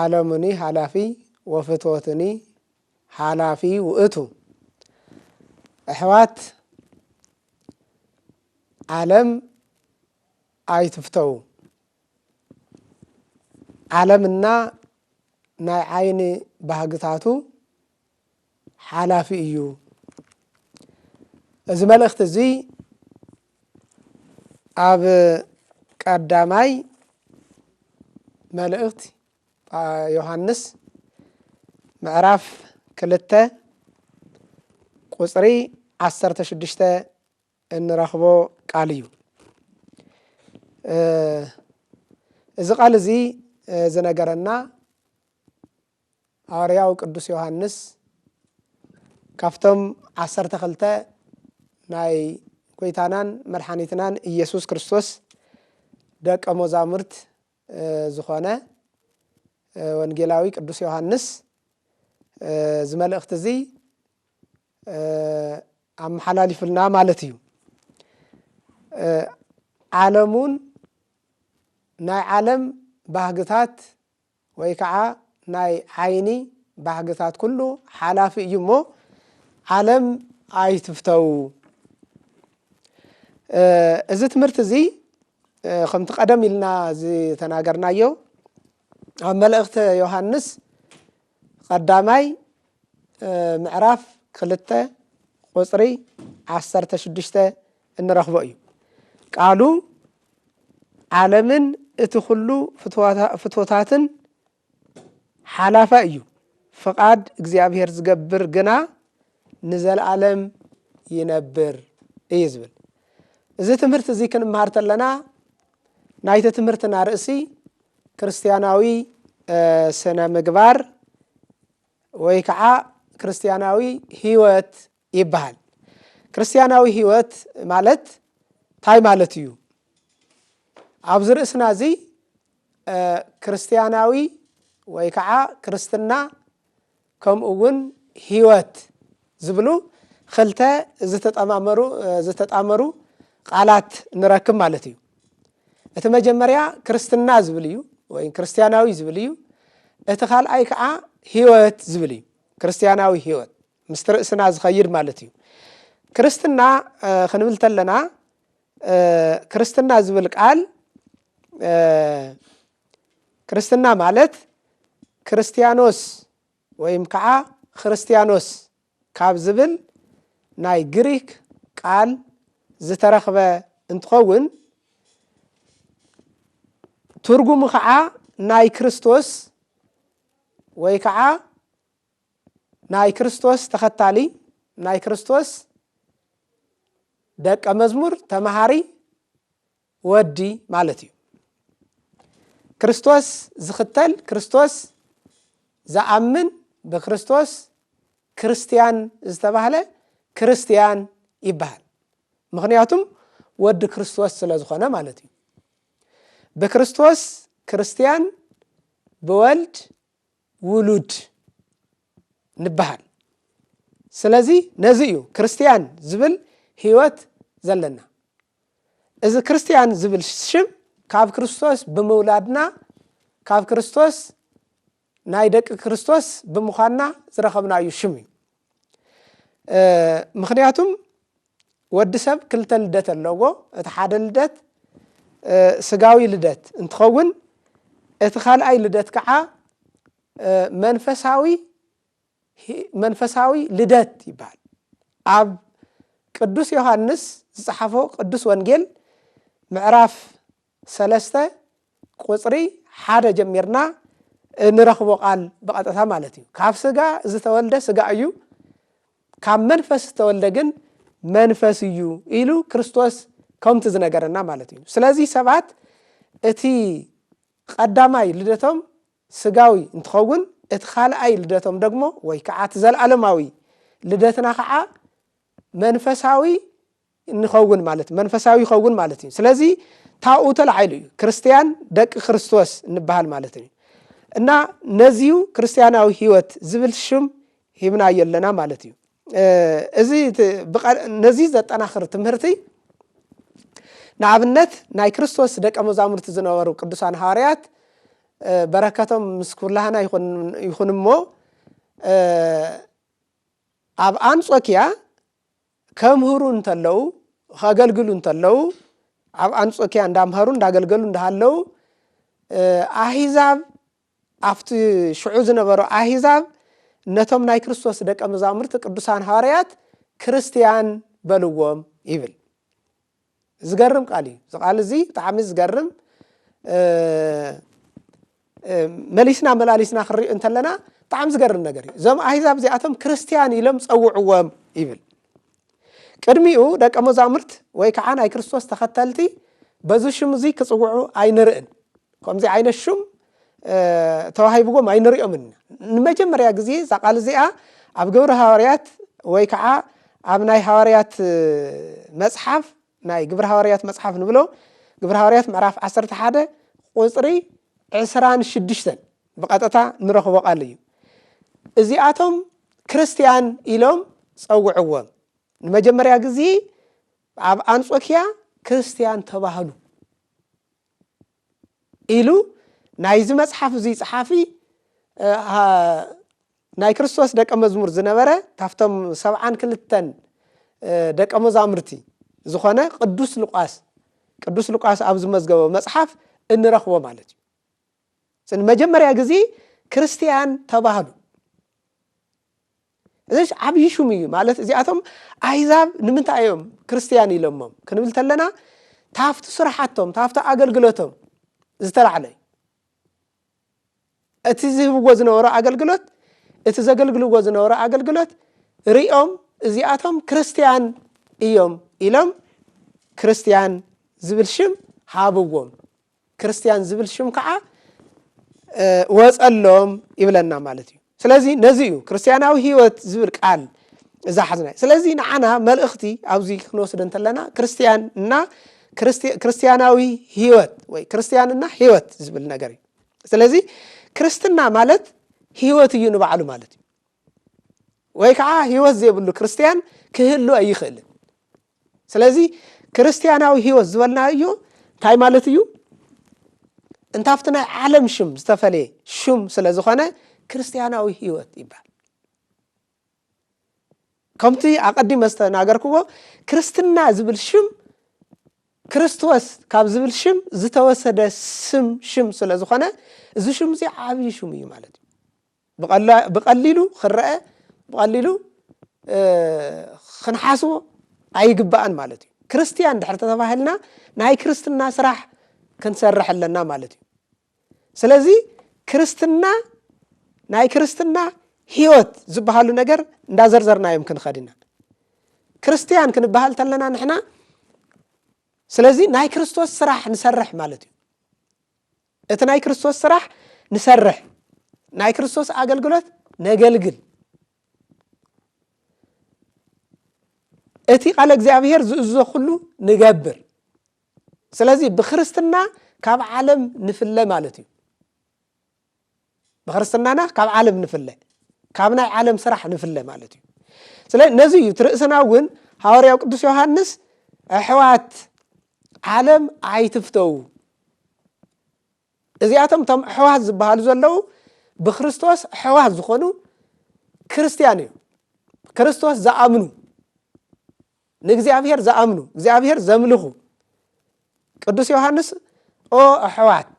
ዓለሙኒ ሓላፊ ወፍትወቱኒ ሓላፊ ውእቱ ኣሕዋት ዓለም ኣይትፍተዉ ዓለምና ናይ ዓይኒ ባህግታቱ ሓላፊ እዩ። እዚ መልእኽቲ እዚ ኣብ ቀዳማይ መልእኽቲ ዮሃንስ ምዕራፍ ክልተ ቁፅሪ ዓሰርተ ሽዱሽተ እንረኽቦ ቃል እዩ። እዚ ቃል እዚ ዝነገረና ሃዋርያው ቅዱስ ዮሃንስ ካብቶም ዓሰርተ ክልተ ናይ ጐይታናን መድሓኒትናን ኢየሱስ ክርስቶስ ደቀ መዛሙርት ዝኾነ ወንጌላዊ ቅዱስ ዮሃንስ እዚ መልእኽቲ እዚ ኣመሓላሊፉልና ማለት እዩ ዓለሙን ናይ ዓለም ባህግታት ወይ ከዓ ናይ ዓይኒ ባህግታት ኩሉ ሓላፊ እዩ እሞ ዓለም ኣይትፍተው። እዚ ትምህርቲ እዚ ከምቲ ቀደም ኢልና ዝተናገርናዮ ኣብ መልእኽተ ዮሃንስ ቀዳማይ ምዕራፍ ክልተ ቁፅሪ ዓሰርተ ሽዱሽተ እንረኽቦ እዩ። ቃሉ ዓለምን እቲ ኩሉ ፍቶታትን ሓላፋይ እዩ። ፍቓድ እግዚኣብሔር ዝገብር ግና ንዘለዓለም ይነብር እዩ ዝብል እዚ ትምህርቲ እዚ ክንምሃር ተለና ናይቲ ትምህርትና ርእሲ ክርስትያናዊ ስነ ምግባር ወይ ከዓ ክርስትያናዊ ህይወት ይበሃል። ክርስትያናዊ ሕይወት ማለት ታይ ማለት እዩ? ኣብዚ ርእስና እዚ ክርስትያናዊ ወይ ከዓ ክርስትና ከምኡ እውን ሕይወት ዝብሉ ክልተ ዝተጠማመሩ ዝተጣመሩ ቃላት ንረክብ ማለት እዩ። እቲ መጀመርያ ክርስትና ዝብል እዩ ወይ ክርስትያናዊ ዝብል እዩ። እቲ ካልኣይ ከዓ ሕይወት ዝብል እዩ። ክርስትያናዊ ሕይወት ምስቲ ርእስና ዝኸይድ ማለት እዩ። ክርስትና ክንብል ተለና ክርስትና ዝብል ቃል ክርስትና ማለት ክርስትያኖስ ወይም ከዓ ክርስትያኖስ ካብ ዝብል ናይ ግሪክ ቃል ዝተረኽበ እንትኸውን ትርጉሙ ከዓ ናይ ክርስቶስ ወይ ከዓ ናይ ክርስቶስ ተኸታሊ፣ ናይ ክርስቶስ ደቀ መዝሙር፣ ተመሃሪ፣ ወዲ ማለት እዩ። ክርስቶስ ዝኽተል፣ ክርስቶስ ዝኣምን፣ ብክርስቶስ ክርስትያን ዝተባህለ ክርስትያን ይበሃል። ምኽንያቱም ወዲ ክርስቶስ ስለ ዝኾነ ማለት እዩ። ብክርስቶስ ክርስትያን፣ ብወልድ ውሉድ ንበሃል ስለዚ ነዚ እዩ ክርስትያን ዝብል ህይወት ዘለና እዚ ክርስትያን ዝብል ሽም ካብ ክርስቶስ ብምውላድና ካብ ክርስቶስ ናይ ደቂ ክርስቶስ ብምዃንና ዝረኸብናዩ ሽም እዩ ምክንያቱም ወዲ ሰብ ክልተ ልደት ኣለዎ እቲ ሓደ ልደት ስጋዊ ልደት እንትኸውን እቲ ካልኣይ ልደት ከዓ መንፈሳዊ መንፈሳዊ ልደት ይበሃል ኣብ ቅዱስ ዮሃንስ ዝፀሓፎ ቅዱስ ወንጌል ምዕራፍ ሰለስተ ቁጽሪ ሓደ ጀሚርና እንረኽቦ ቃል ብቐጥታ ማለት እዩ። ካብ ስጋ ዝተወልደ ስጋ እዩ፣ ካብ መንፈስ ዝተወልደ ግን መንፈስ እዩ ኢሉ ክርስቶስ ከምቲ ዝነገረና ማለት እዩ። ስለዚ ሰባት እቲ ቀዳማይ ልደቶም ስጋዊ እንትኸውን እቲ ካልኣይ ልደቶም ደግሞ ወይ ከዓ እቲ ዘለኣለማዊ ልደትና ከዓ መንፈሳዊ ንኸውን ማለት መንፈሳዊ ይኸውን ማለት እዩ ስለዚ ታብኡ ተላዒሉ እዩ ክርስትያን ደቂ ክርስቶስ እንበሃል ማለት እዩ እና ነዚዩ ክርስትያናዊ ህይወት ዝብል ሽም ሂብናዮ ኣለና ማለት እዩ እዚ ነዚ ዘጠናኽር ትምህርቲ ንኣብነት ናይ ክርስቶስ ደቀ መዛሙርቲ ዝነበሩ ቅዱሳን ሃዋርያት በረከቶም ምስ ኩላህና ይኹን እሞ ኣብ ኣንጾኪያ ከምህሩ እንተለዉ፣ ከገልግሉ እንተለዉ፣ ኣብ ኣንጾኪያ እንዳምሀሩ እንዳገልገሉ እንዳሃለዉ ኣሂዛብ ኣብቲ ሽዑ ዝነበሩ ኣሂዛብ ነቶም ናይ ክርስቶስ ደቀ መዛሙርቲ ቅዱሳን ሃዋርያት ክርስትያን በልዎም ይብል። ዝገርም ቃል እዩ እዚ ቃል እዚ ብጣዕሚ ዝገርም መሊስና መላሊስና ክንሪኦ እንተለና ብጣዕሚ ዝገርም ነገር እዩ እዞም ኣህዛብ እዚኣቶም ክርስትያን ኢሎም ፀውዕዎም ይብል ቅድሚኡ ደቀ መዛሙርት ወይ ከዓ ናይ ክርስቶስ ተኸተልቲ በዚ ሽም እዚ ክፅውዑ ኣይንርእን ከምዚ ዓይነት ሹም ተዋሂብዎም ኣይንሪኦምን። ንመጀመርያ ግዜ እዛ ቃል እዚኣ ኣብ ግብሪ ሃዋርያት ወይ ከዓ ኣብ ናይ ሃዋርያት መጽሓፍ ናይ ግብሪ ሃዋርያት መጽሓፍ ንብሎ ግብሪ ሃዋርያት ምዕራፍ 11 ቁፅሪ 26 ብቐጥታ ንረኽቦ ቃል እዩ። እዚኣቶም ክርስትያን ኢሎም ጸውዕዎም። ንመጀመርያ ግዜ ኣብ ኣንጾኪያ ክርስትያን ተባህሉ ኢሉ ናይዚ መጽሓፍ እዙይ ጸሓፊ ናይ ክርስቶስ ደቀ መዝሙር ዝነበረ ካብቶም ሰብዓን ክልተን ደቀ መዛሙርቲ ዝኾነ ቅዱስ ሉቃስ ቅዱስ ሉቃስ ኣብ ዝመዝገበ መጽሓፍ እንረኽቦ ማለት እዩ መጀመርያ ግዜ ክርስትያን ተባህሉ እዚሽ ዓብዪ ሹም እዩ ማለት እዚኣቶም ኣህዛብ ንምንታይ እዮም ክርስትያን ኢሎሞም ክንብል ተለና ታፍቲ ስራሓቶም ታፍቲ ኣገልግሎቶም ዝተላዕለ እዩ እቲ ዝህብዎ ዝነበሩ ኣገልግሎት እቲ ዘገልግልዎ ዝነበሩ ኣገልግሎት ሪኦም እዚኣቶም ክርስትያን እዮም ኢሎም ክርስትያን ዝብል ሽም ሃብዎም ክርስትያን ዝብል ሽም ከዓ ወፀሎም ይብለና ማለት እዩ ስለዚ ነዚ እዩ ክርስትያናዊ ህይወት ዝብል ቃል እዛ ሓዝና ስለዚ ንዓና መልእኽቲ ኣብዚ ክንወስድ እንተለና ክርስትያን እና ክርስትያናዊ ህይወት ወይ ክርስትያንና ህይወት ዝብል ነገር እዩ ስለዚ ክርስትና ማለት ህይወት እዩ ንባዕሉ ማለት እዩ ወይ ከዓ ህይወት ዘይብሉ ክርስትያን ክህሉ ኣይኽእልን ስለዚ ክርስትያናዊ ህይወት ዝበልና እዩ እንታይ ማለት እዩ? እንታፍቲ ናይ ዓለም ሽም ዝተፈለየ ሽም ስለ ዝኾነ ክርስትያናዊ ህይወት ይበሃል ከምቲ ኣቐዲመ ዝተናገርክዎ ክርስትና ዝብል ሽም ክርስቶስ ካብ ዝብል ሽም ዝተወሰደ ስም ሽም ስለ ዝኾነ እዚ ሽም እዚ ዓብዪ ሽም እዩ ማለት እዩ ብቐሊሉ ክረአ ብቐሊሉ ክንሓስቦ ኣይግባእን ማለት እዩ ክርስትያን ድሕር ተተባሂልና ናይ ክርስትና ስራሕ ክንሰርሕ ኣለና ማለት እዩ ስለዚ ክርስትና ናይ ክርስትና ህይወት ዝበሃሉ ነገር እንዳዘርዘርና እዮም ክንኸድ ኢና ክርስትያን ክንበሃል ተለና ንሕና ስለዚ ናይ ክርስቶስ ስራሕ ንሰርሕ ማለት እዩ እቲ ናይ ክርስቶስ ስራሕ ንሰርሕ፣ ናይ ክርስቶስ ኣገልግሎት ነገልግል። እቲ ቃለ እግዚኣብሔር ዝእዞ ኩሉ ንገብር። ስለዚ ብክርስትና ካብ ዓለም ንፍለ ማለት እዩ። ብክርስትናና ካብ ዓለም ንፍለ ካብ ናይ ዓለም ስራሕ ንፍለ ማለት እዩ ስለ ነዚ እዩ ትርእስና እውን ሃዋርያው ቅዱስ ዮሃንስ ኣሕዋት ዓለም ኣይትፍተው እዚኣቶም እቶም ኣሕዋት ዝበሃሉ ዘለዉ ብክርስቶስ ኣሕዋት ዝኾኑ ክርስትያን እዮም ክርስቶስ ዝኣምኑ ንእግዚኣብሄር ዝኣምኑ እግዚኣብሄር ዘምልኹ ቅዱስ ዮሃንስ ኦ ኣሕዋት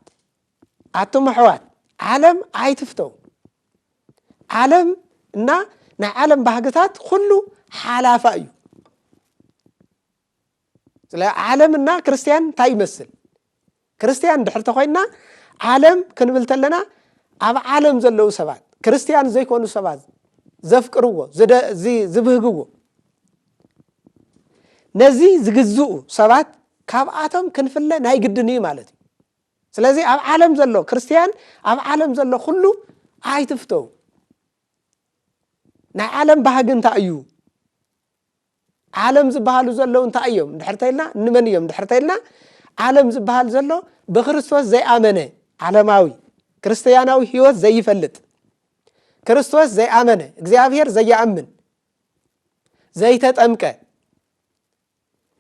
ኣቱም ኣሕዋት ዓለም ኣይትፍተው ዓለም እና ናይ ዓለም ባህግታት ኩሉ ሓላፋ እዩ ስለ ዓለም እና ክርስትያን እንታይ ይመስል ክርስትያን ድሕር ተኮይና ዓለም ክንብል ተለና ኣብ ዓለም ዘለዉ ሰባት ክርስትያን ዘይኮኑ ሰባት ዘፍቅርዎ ዝብህግዎ ነዚ ዝግዝኡ ሰባት ካብኣቶም ክንፍለ ናይ ግድን እዩ ማለት እዩ ስለዚ ኣብ ዓለም ዘሎ ክርስትያን ኣብ ዓለም ዘሎ ኩሉ ኣይትፍተው ናይ ዓለም ባህጊ እንታይ እዩ ዓለም ዝበሃሉ ዘለዉ እንታይ እዮም ድሕር ተኢልና ንመን እዮም ድሕር ተኢልና ዓለም ዝበሃል ዘሎ ብክርስቶስ ዘይኣመነ ዓለማዊ ክርስትያናዊ ህይወት ዘይፈልጥ ክርስቶስ ዘይኣመነ እግዚኣብሔር ዘይኣምን ዘይተጠምቀ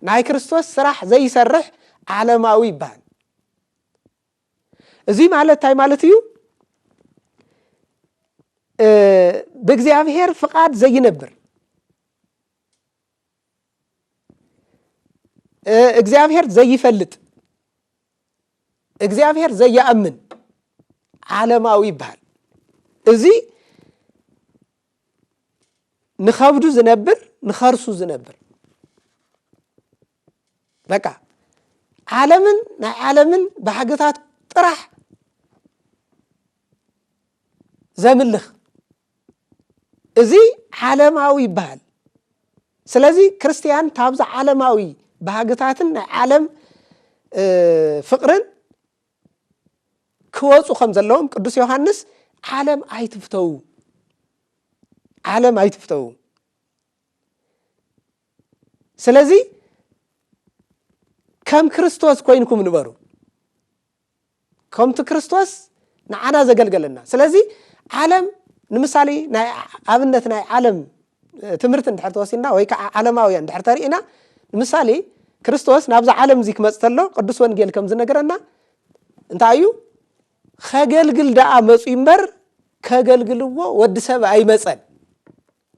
ናይ ክርስቶስ ስራሕ ዘይሰርሕ ዓለማዊ ይበሃል። እዙይ ማለት እንታይ ማለት እዩ? ብእግዚኣብሔር ፍቓድ ዘይነብር እግዚኣብሔር ዘይፈልጥ እግዚኣብሔር ዘየኣምን ዓለማዊ ይበሃል። እዚ ንኸብዱ ዝነብር ንኸርሱ ዝነብር በቃ ዓለምን ናይ ዓለምን ባህግታት ጥራሕ ዘምልኽ እዚ ዓለማዊ ይበሃል ስለዚ ክርስትያን ካብዚ ዓለማዊ ባህግታትን ናይ ዓለም ፍቕርን ክወፁ ከም ዘለዎም ቅዱስ ዮሃንስ ዓለም ኣይትፍተው ዓለም ኣይትፍተው ስለዚ ከም ክርስቶስ ኮይንኩም ንበሩ ከምቲ ክርስቶስ ንዓና ዘገልገለና ስለዚ ዓለም ንምሳሌ ናይ ኣብነት ናይ ዓለም ትምህርቲ እንድሕር ተወሲድና ወይ ከዓ ዓለማውያን እንድሕር ተሪእና ንምሳሌ ክርስቶስ ናብዛ ዓለም እዚ ክመፅ ተሎ ቅዱስ ወንጌል ከም ዝነገረና እንታይ እዩ ከገልግል ደኣ መፁ እምበር ከገልግልዎ ወዲ ሰብ ኣይመፀን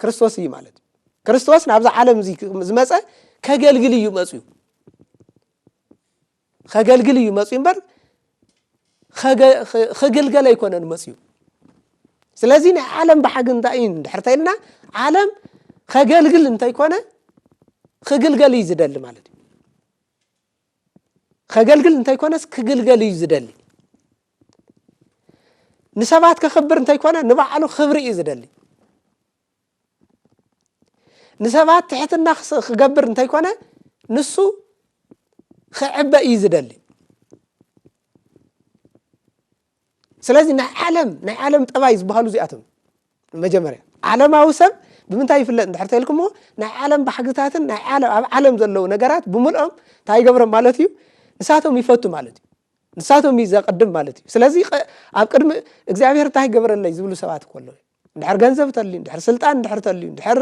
ክርስቶስ እዩ ማለት እዩ ክርስቶስ ናብዛ ዓለም እዚ ዝመፀ ከገልግል እዩ መፅዩ ኸገልግል እዩ መፅኡ እምበር ኽግልገል ኣይኮነን መፅኡ ስለዚ ናይ ዓለም ባሓጊ እንታይ እዩ ድሕር ተይልና ዓለም ኸገልግል እንተይኮነ ኽግልገል እዩ ዝደሊ ማለት እዩ ኸገልግል እንተይኮነስ ክግልገል እዩ ዝደሊ ንሰባት ከኽብር እንተይኮነ ንባዕሉ ክብሪ እዩ ዝደሊ ንሰባት ትሕትና ክገብር እንተይኮነ ንሱ ክዕበ እዩ ዝደሊ ስለዚ ናይ ዓለም ናይ ዓለም ጠባይ ዝበሃሉ እዚኣቶም መጀመርያ ዓለማዊ ሰብ ብምንታይ ይፍለጥ እንድሕር ተልኩምዎ ናይ ዓለም ባሕግታትን ናይ ዓለም ኣብ ዓለም ዘለዉ ነገራት ብምልኦም እንታይ ይገብሮም ማለት እዩ ንሳቶም ይፈቱ ማለት እዩ ንሳቶም እዩ ዘቅድም ማለት እዩ ስለዚ ኣብ ቅድሚ እግዚኣብሔር እንታይ ይገብረለይ ዝብሉ ሰባት ከለዉ እንድሕር ገንዘብ ተልዩ እንድሕር ስልጣን እንድሕር ተልዩ እንድሕር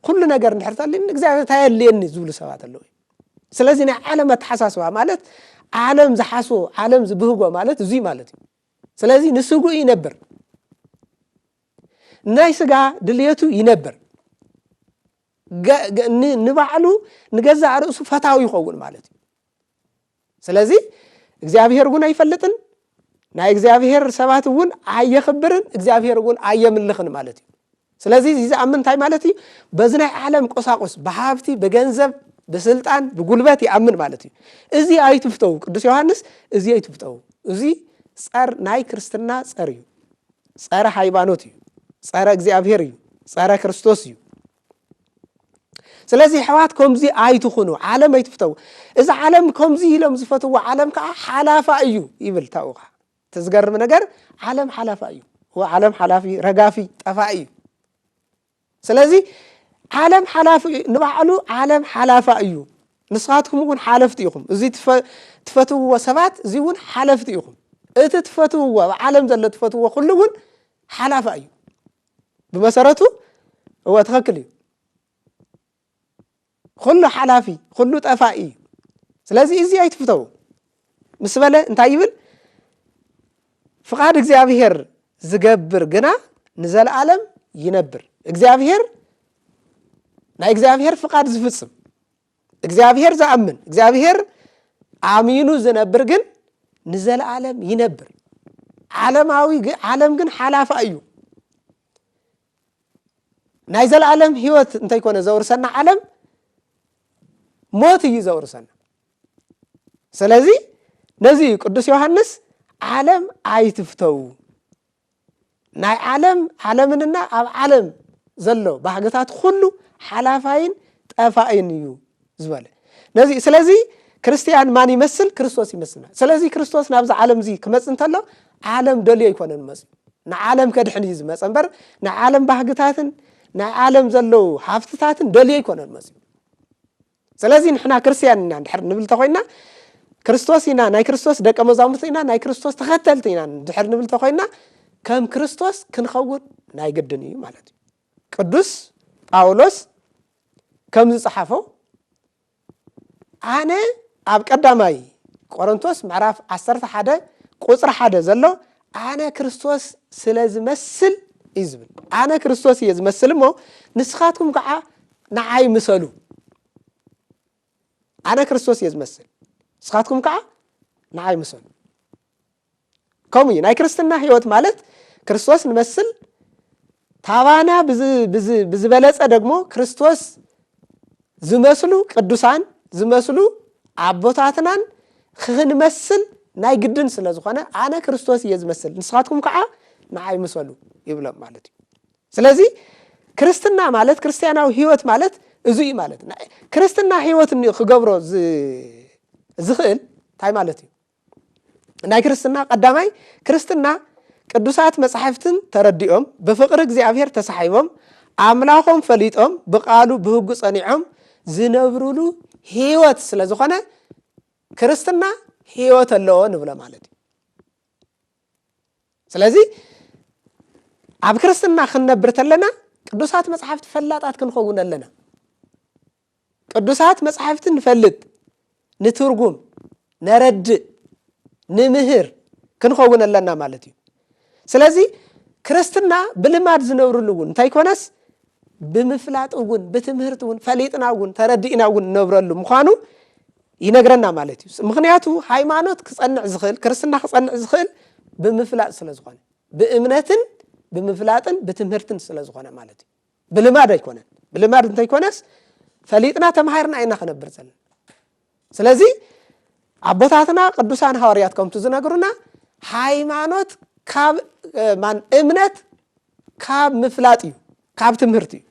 ኩሉ ነገር እንድሕር ተልዩ ንእግዚኣብሔር እንታይ የድልየኒ ዝብሉ ሰባት ኣለዉ ስለዚ ናይ ዓለም ኣተሓሳስባ ማለት ዓለም ዝሓስቦ ዓለም ዝብህጎ ማለት እዙይ ማለት እዩ ስለዚ ንስጉ ይነብር ናይ ስጋ ድልየቱ ይነብር ንባዕሉ ንገዛእ ርእሱ ፈታዊ ይኸውን ማለት እዩ ስለዚ እግዚኣብሄር እውን ኣይፈልጥን ናይ እግዚኣብሄር ሰባት እውን ኣየኽብርን እግዚኣብሄር እውን ኣየምልኽን ማለት እዩ ስለዚ እዚ ዝኣምን እንታይ ማለት እዩ በዚ ናይ ዓለም ቁሳቁስ ብሃብቲ ብገንዘብ ብስልጣን ብጉልበት ይኣምን ማለት እዩ እዚ ኣይትፍተው ቅዱስ ዮሃንስ እዚ ኣይትፍተው እዚ ፀር ናይ ክርስትና ፀር እዩ ፀረ ሃይማኖት እዩ ፀረ እግዚኣብሄር እዩ ፀረ ክርስቶስ እዩ ስለዚ ኣሕዋት ከምዚ ኣይትኹኑ፣ ዓለም ኣይትፍተው። እዚ ዓለም ከምዚ ኢሎም ዝፈትዎ ዓለም ከዓ ሓላፋ እዩ ይብል ታኡ ከዓ እቲ ዝገርም ነገር ዓለም ሓላፋ እዩ። ዓለም ሓላፊ ረጋፊ ጠፋኢ እዩ። ስለዚ ዓለም ሓላፊ ንባዕሉ ዓለም ሓላፋ እዩ። ንስኻትኩም እውን ሓለፍቲ ኢኹም። እዚ ትፈትውዎ ሰባት እዚ እውን ሓለፍቲ ኢኹም። እቲ ትፈትውዎ ኣብ ዓለም ዘሎ ትፈትውዎ ኩሉ እውን ሓላፋ እዩ። ብመሰረቱ እወ ትኸክል እዩ ኩሉ ሓላፊ ኩሉ ጠፋኢ እዩ ስለዚ እዚ ኣይትፍተው ምስ በለ እንታይ ይብል ፍቓድ እግዚኣብሄር ዝገብር ግና ንዘለዓለም ይነብር እግዚኣብሄር ናይ እግዚኣብሄር ፍቓድ ዝፍፅም እግዚኣብሔር ዝኣምን እግዚኣብሔር ኣሚኑ ዝነብር ግን ንዘለዓለም ይነብር ዓለማዊ ዓለም ግን ሓላፋ እዩ ናይ ዘለዓለም ህይወት እንተይኮነ ዘውርሰና ዓለም ሞት እዩ ዘውርሰና ስለዚ ነዚ እዩ ቅዱስ ዮሃንስ ዓለም ኣይትፍተው ናይ ዓለም ዓለምንና ኣብ ዓለም ዘሎ ባህግታት ኩሉ ሓላፋይን ጠፋእን እዩ ዝበለ ነዚ ስለዚ ክርስትያን ማን ይመስል ክርስቶስ ይመስልና ስለዚ ክርስቶስ ናብዚ ዓለም እዚ ክመፅ እንተሎ ዓለም ደልዮ ኣይኮነን መፅዩ ንዓለም ከድሕን እዩ ዝመፀ እምበር ናይ ዓለም ባህግታትን ናይ ዓለም ዘለዉ ሃፍትታትን ደልዮ ኣይኮነን መፅዩ ስለዚ ንሕና ክርስትያን ኢና ድሕር ንብል ተኮይና ክርስቶስ ኢና ናይ ክርስቶስ ደቀ መዛሙርቲ ኢና ናይ ክርስቶስ ተኸተልቲ ኢና ድሕር ንብል ተኮይና ከም ክርስቶስ ክንኸውን ናይ ግድን እዩ ማለት እዩ ቅዱስ ጳውሎስ ከም ዝጸሓፎ ኣነ ኣብ ቀዳማይ ቆሮንቶስ ምዕራፍ 11 ቁፅሪ ሓደ ዘሎ ኣነ ክርስቶስ ስለ ዝመስል እዩ ዝብል ኣነ ክርስቶስ እየ ዝመስል እሞ ንስኻትኩም ከዓ ንዓይ ምሰሉ ኣነ ክርስቶስ እየ ዝመስል ንስኻትኩም ከዓ ንዓይ ምሰሉ ከምኡ እዩ ናይ ክርስትና ህይወት ማለት ክርስቶስ ንመስል ታባና ብዝበለፀ ደግሞ ክርስቶስ ዝመስሉ ቅዱሳን ዝመስሉ ኣቦታትናን ክንመስል ናይ ግድን ስለ ዝኾነ ኣነ ክርስቶስ እየ ዝመስል ንስኻትኩም ከዓ ንዓይ ምሰሉ ይብሎም ማለት እዩ ስለዚ ክርስትና ማለት ክርስትያናዊ ህይወት ማለት እዚ እዩ ማለት ክርስትና ህይወት እኒ ክገብሮ ዝኽእል እንታይ ማለት እዩ ናይ ክርስትና ቀዳማይ ክርስትና ቅዱሳት መጻሕፍትን ተረዲኦም ብፍቕሪ እግዚኣብሔር ተሳሒቦም ኣምላኾም ፈሊጦም ብቃሉ ብህጉ ጸኒዖም ዝነብሩሉ ህይወት ስለ ዝኾነ ክርስትና ህይወት ኣለዎ ንብሎ ማለት እዩ ስለዚ ኣብ ክርስትና ክንነብር ተለና ቅዱሳት መጽሓፍቲ ፈላጣት ክንኸውን ኣለና ቅዱሳት መጽሓፍቲ ንፈልጥ ንትርጉም ነረድእ ንምህር ክንኸውን ኣለና ማለት እዩ ስለዚ ክርስትና ብልማድ ዝነብርሉ እውን እንታይ ኮነስ ብምፍላጥ እውን ብትምህርቲ እውን ፈሊጥና እውን ተረዲእና እውን እነብረሉ ምዃኑ ይነግረና ማለት እዩ ምክንያቱ ሃይማኖት ክፀንዕ ዝክእል ክርስትና ክፀንዕ ዝክእል ብምፍላጥ ስለ ዝኮነ ብእምነትን ብምፍላጥን ብትምህርትን ስለ ዝኮነ ማለት እዩ ብልማድ ኣይኮነን ብልማድ እንተይኮነስ ፈሊጥና ተማሂርና ኢና ክነብር ዘለና ስለዚ ኣቦታትና ቅዱሳን ሃዋርያት ከምቲ ዝነግሩና ሃይማኖት ካብ ማን እምነት ካብ ምፍላጥ እዩ ካብ ትምህርቲ እዩ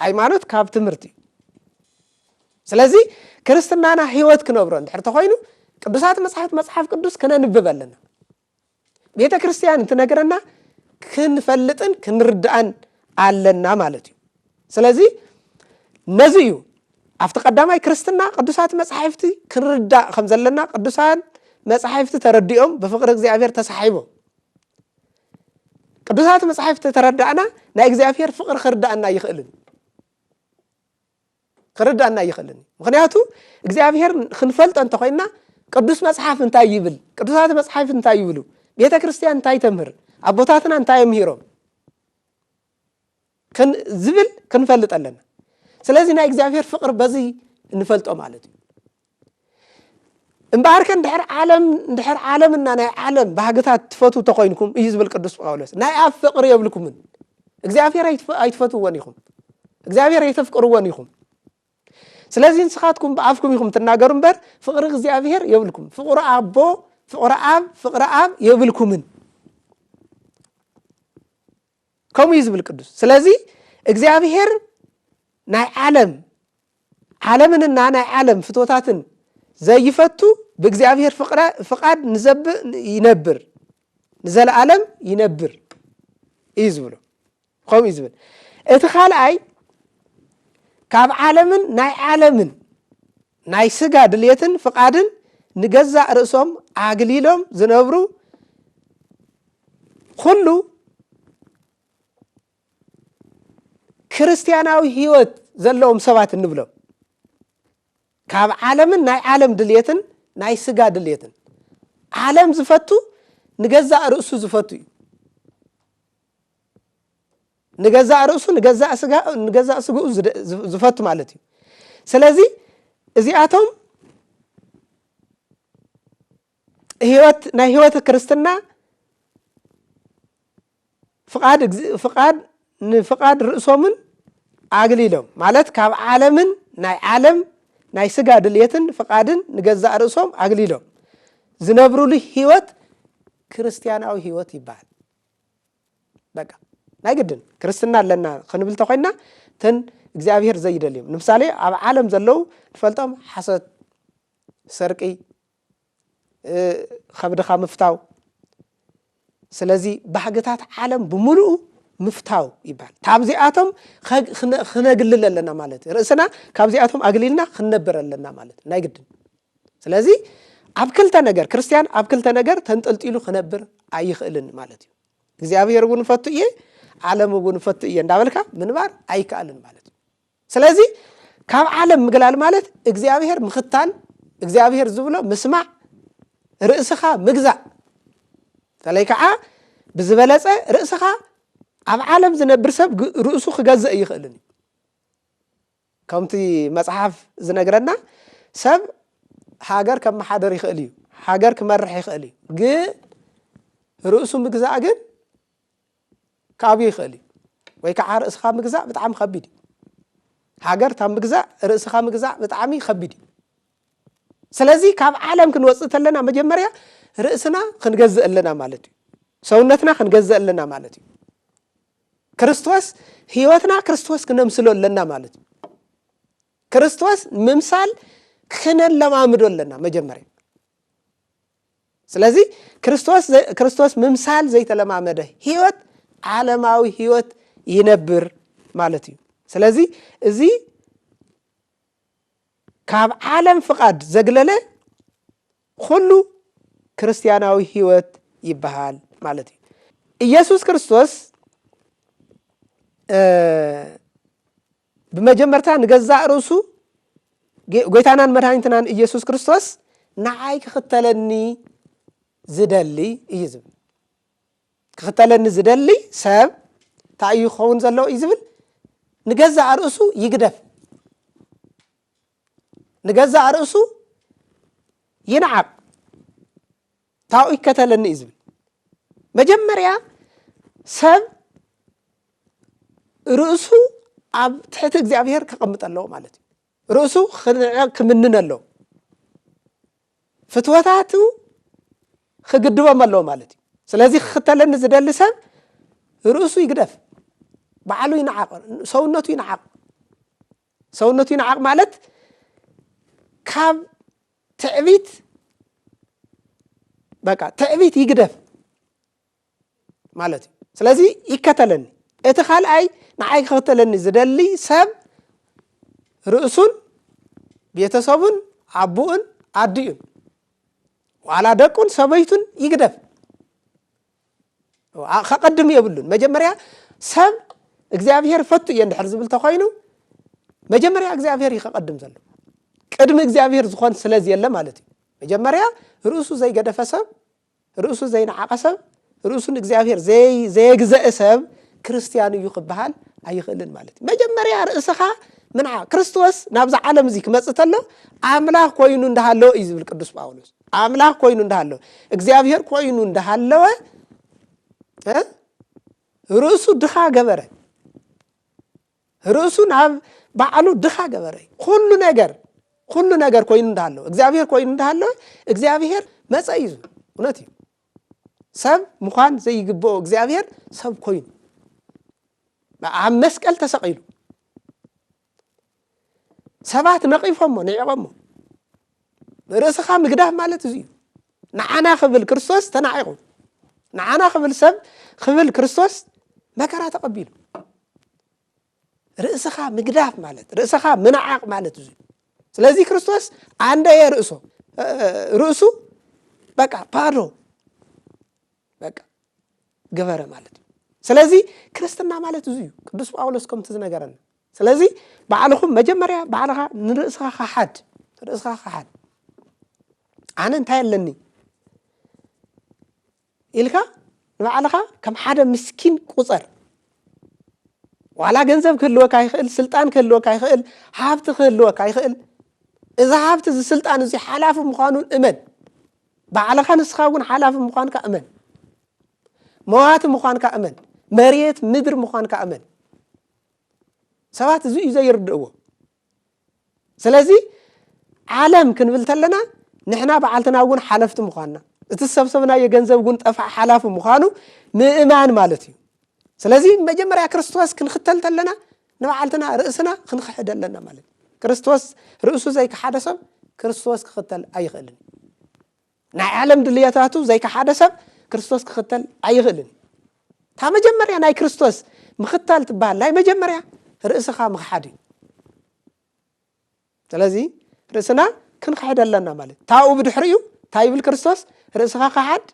ሃይማኖት ካብ ትምህርቲ እዩ ስለዚ ክርስትናና ህይወት ክነብሮ እንድሕር ተኾይኑ ቅዱሳት መጽሕፍት መጽሓፍ ቅዱስ ክነንብብ ኣለና። ቤተ ክርስቲያን እንትነግረና ክንፈልጥን ክንርዳእን ኣለና ማለት እዩ። ስለዚ ነዚ እዩ ኣብቲ ቀዳማይ ክርስትና ቅዱሳት መጻሕፍቲ ክንርዳእ ከም ዘለና ቅዱሳን መጻሕፍቲ ተረዲኦም ብፍቕሪ እግዚኣብሔር ተሳሒቦም ቅዱሳት መጻሕፍቲ ተረዳእና ናይ እግዚኣብሔር ፍቕሪ ክርዳእና ይኽእልን ክርዳና ኣይኽእልን እዩ ምክንያቱ እግዚኣብሔር ክንፈልጦ እንተኮይና ቅዱስ መጽሓፍ እንታይ ይብል ቅዱሳት መጽሓፍ እንታይ ይብሉ ቤተ ክርስቲያን እንታይ ተምህር ኣቦታትና እንታይ የምሂሮም ዝብል ክንፈልጥ ኣለና ስለዚ ናይ እግዚኣብሔር ፍቅሪ በዚ እንፈልጦ ማለት እዩ እምበኣርከ እንድሕር ዓለም እንድሕር ዓለምና ናይ ዓለም ባህግታት ትፈትው ተኮይንኩም እዩ ዝብል ቅዱስ ጳውሎስ ናይ ኣብ ፍቅሪ የብልኩምን እግዚኣብሔር ኣይትፈትውዎን ኢኹም እግዚኣብሔር ኣይተፍቅርዎን ኢኹም ስለዚ ንስኻትኩም ብኣፍኩም ኢኹም ትናገሩ እምበር ፍቅሪ እግዚኣብሔር የብልኩም ፍቅሪ ኣቦ ፍቅሪ ኣብ ፍቅሪ ኣብ የብልኩምን ከምኡ እዩ ዝብል ቅዱስ ስለዚ እግዚኣብሄር ናይ ዓለም ዓለምንና ናይ ዓለም ፍትወታትን ዘይፈቱ ብእግዚኣብሄር ፍቃድ ንዘብእ ይነብር ንዘለኣለም ይነብር እዩ ዝብሎ ከምኡ እዩ ዝብል እቲ ካልኣይ ካብ ዓለምን ናይ ዓለምን ናይ ስጋ ድልየትን ፍቃድን ንገዛእ ርእሶም ኣግሊሎም ዝነብሩ ኩሉ ክርስትያናዊ ህይወት ዘለዎም ሰባት እንብሎም ካብ ዓለምን ናይ ዓለም ድልየትን ናይ ስጋ ድልየትን ዓለም ዝፈቱ ንገዛእ ርእሱ ዝፈቱ እዩ ንገዛእ ርእሱ ንገዛእ ስግኡ ዝፈቱ ማለት እዩ ስለዚ እዚኣቶም ህይወት ናይ ህይወት ክርስትና ፍቃድ ፍቃድ ንፍቃድ ርእሶምን ኣግሊሎም ማለት ካብ ዓለምን ናይ ዓለም ናይ ስጋ ድልየትን ፍቃድን ንገዛእ ርእሶም ኣግሊሎም ዝነብሩሉ ህይወት ክርስትያናዊ ህይወት ይበሃል በቃ ናይ ግድን ክርስትና ኣለና ክንብል እንተኮይንና እተን እግዚኣብሄር ዘይደልዮም ንምሳሌ ኣብ ዓለም ዘለዉ ንፈልጦም ሓሶት ሰርቂ ከብድኻ ምፍታው ስለዚ ባህግታት ዓለም ብምሉኡ ምፍታው ይበሃል ካብዚኣቶም ክነግልል ኣለና ማለት እዩ ርእስና ካብዚኣቶም ኣግሊልና ክንነብር ኣለና ማለት እዩ ናይ ግድን ስለዚ ኣብ ክልተ ነገር ክርስትያን ኣብ ክልተ ነገር ተንጠልጢሉ ክነብር ኣይኽእልን ማለት እዩ። እግዚኣብሔር እውን ፈቱ እየ ዓለም እውን ፈቱ እየ እንዳበልካ ምንባር ኣይከኣልን ማለት እዩ። ስለዚ ካብ ዓለም ምግላል ማለት እግዚኣብሔር ምኽታል፣ እግዚኣብሔር ዝብሎ ምስማዕ፣ ርእስኻ ምግዛእ በተለይ ከዓ ብዝበለፀ ርእስኻ ኣብ ዓለም ዝነብር ሰብ ርእሱ ክገዝእ ይኽእልን እዩ። ከምቲ መጽሓፍ ዝነግረና ሰብ ሃገር ከመሓድር ይኽእል እዩ፣ ሃገር ክመርሕ ይኽእል እዩ፣ ግን ርእሱ ምግዛእ ግን ካብዩ ይኽእል እዩ። ወይ ከዓ ርእስኻ ምግዛእ ብጣዕሚ ከቢድ እዩ። ሃገር ካብ ምግዛእ ርእስኻ ምግዛእ ብጣዕሚ ከቢድ እዩ። ስለዚ ካብ ዓለም ክንወፅእ ተለና መጀመርያ ርእስና ክንገዝእ ኣለና ማለት እዩ። ሰውነትና ክንገዝእ ኣለና ማለት እዩ። ክርስቶስ ህይወትና ክርስቶስ ክነምስሎ ኣለና ማለት እዩ። ክርስቶስ ምምሳል ክነለማምዶ ኣለና መጀመርያ። ስለዚ ክርስቶስ ምምሳል ዘይተለማመደ ህይወት ዓለማዊ ህይወት ይነብር ማለት እዩ። ስለዚ እዚ ካብ ዓለም ፍቓድ ዘግለለ ኹሉ ክርስትያናዊ ህይወት ይበሃል ማለት እዩ። ኢየሱስ ክርስቶስ ብመጀመርታ ንገዛእ ርእሱ ጎይታናን መድሃኒትናን ኢየሱስ ክርስቶስ ንዓይ ክኽተለኒ ዝደሊ እዩ ዝብል ክኽተለኒ ዝደሊ ሰብ እንታይ እዩ ክኸውን ዘለዎ እዩ ዝብል ንገዛእ ርእሱ ይግደፍ ንገዛእ ርእሱ ይንዓቕ ታኡ ይከተለኒ እዩ ዝብል መጀመርያ ሰብ ርእሱ ኣብ ትሕቲ እግዚኣብሄር ከቐምጥ ኣለዎ ማለት እዩ ርእሱ ክምንን ኣለዎ ፍትወታቱ ክግድቦም ኣለዎ ማለት እዩ ስለዚ ክክተለኒ ዝደሊ ሰብ ርእሱ ይግደፍ ባዕሉ ይንዓቕ ሰውነቱ ይንዓቕ ሰውነቱ ይንዓቕ ማለት ካብ ትዕቢት በቃ ትዕቢት ይግደፍ ማለት እዩ ስለዚ ይከተለኒ እቲ ካልኣይ ንዓይ ክኽተለኒ ዝደሊ ሰብ ርእሱን ቤተሰቡን ኣቦኡን ኣዲኡን ዋላ ደቁን ሰበይቱን ይግደፍ ከቐድም የብሉን መጀመርያ ሰብ እግዚኣብሄር ፈቱ እየ እንድሕር ዝብል ተኮይኑ መጀመርያ እግዚኣብሄር እዩ ከቐድም ዘሎ ቅድሚ እግዚኣብሄር ዝኾን ስለዝየለ ማለት እዩ መጀመርያ ርእሱ ዘይገደፈ ሰብ ርእሱ ዘይነዓቐ ሰብ ርእሱ ንእግዚኣብሄር ዘየግዘአ ሰብ ክርስትያን እዩ ክበሃል ኣይኽእልን ማለት እዩ መጀመርያ ርእስኻ ምንዓ ክርስቶስ ናብዚ ዓለም እዚ ክመፅእ ተሎ ኣምላኽ ኮይኑ እንዳሃለዎ እዩ ዝብል ቅዱስ ጳውሎስ ኣምላኽ ኮይኑ እንዳሃለወ እግዚኣብሔር ኮይኑ እንዳሃለወ ርእሱ ድኻ ገበረ። ርእሱ ናብ ባዕሉ ድኻ ገበረ። ኩሉ ነገር ኩሉ ነገር ኮይኑ እንዳሃለወ እግዚኣብሔር ኮይኑ እንዳሃለወ እግዚኣብሔር መፀ እዩ። እውነት እዩ። ሰብ ምዃን ዘይግብኦ እግዚኣብሔር ሰብ ኮይኑ ኣብ መስቀል ተሰቂሉ ሰባት ነቒፎሞ ንዒቖሞ ርእስኻ ምግዳፍ ማለት እዚ እዩ ንዓና ክብል ክርስቶስ ተናዒቑ ንዓና ክብል ሰብ ክብል ክርስቶስ መከራ ተቐቢሉ ርእስኻ ምግዳፍ ማለት ርእስኻ ምንዓቕ ማለት እዚ እዩ ስለዚህ ክርስቶስ አንደየ ርእሶ ርእሱ በቃ ባዶ በቃ ገበረ ማለት እዩ ስለዚ ክርስትና ማለት እዚ እዩ ቅዱስ ጳውሎስ ከምቲ ዝነገረና ስለዚ ባዕልኹም መጀመርያ ባዕልኻ ንርእስኻ ካሓድ ርእስኻ ካሓድ ኣነ እንታይ ኣለኒ ኢልካ ንባዕልኻ ከም ሓደ ምስኪን ቁፀር ዋላ ገንዘብ ክህልወካ ይኽእል ስልጣን ክህልወካ ይኽእል ሃብቲ ክህልወካ ይኽእል እዚ ሃብቲ እዚ ስልጣን እዚ ሓላፊ ምዃኑን እመን ባዕልኻ ንስኻ እውን ሓላፊ ምዃንካ እመን። መዋቲ ምዃንካ እመን። መሬት ምድሪ ምዃንካ እመን። ሰባት እዚ እዩ ዘይርድእዎ። ስለዚ ዓለም ክንብል ተለና ንሕና በዓልትና እውን ሓለፍቲ ምዃንና እቲ ዝሰብሰብናዮ ገንዘብ እውን ጠፍዓ ሓላፊ ምዃኑ ምእማን ማለት እዩ። ስለዚ መጀመርያ ክርስቶስ ክንኽተል ተለና ንባዕልትና ርእስና ክንክሕድ ኣለና ማለት እዩ ክርስቶስ ርእሱ ዘይከሓደ ሰብ ክርስቶስ ክኽተል ኣይኽእልን እዩ ናይ ዓለም ድልየታቱ ዘይከሓደ ሰብ ክርስቶስ ክኽተል ኣይኽእልን እዩ እታ መጀመርያ ናይ ክርስቶስ ምኽታል ትበሃል ናይ መጀመርያ ርእስኻ ምኽሓድ እዩ ስለዚ ርእስና ክንክሕድ ኣለና ማለት ታኡ ብድሕሪ እዩ እንታይ ይብል ክርስቶስ ርእስኻ ካሓድ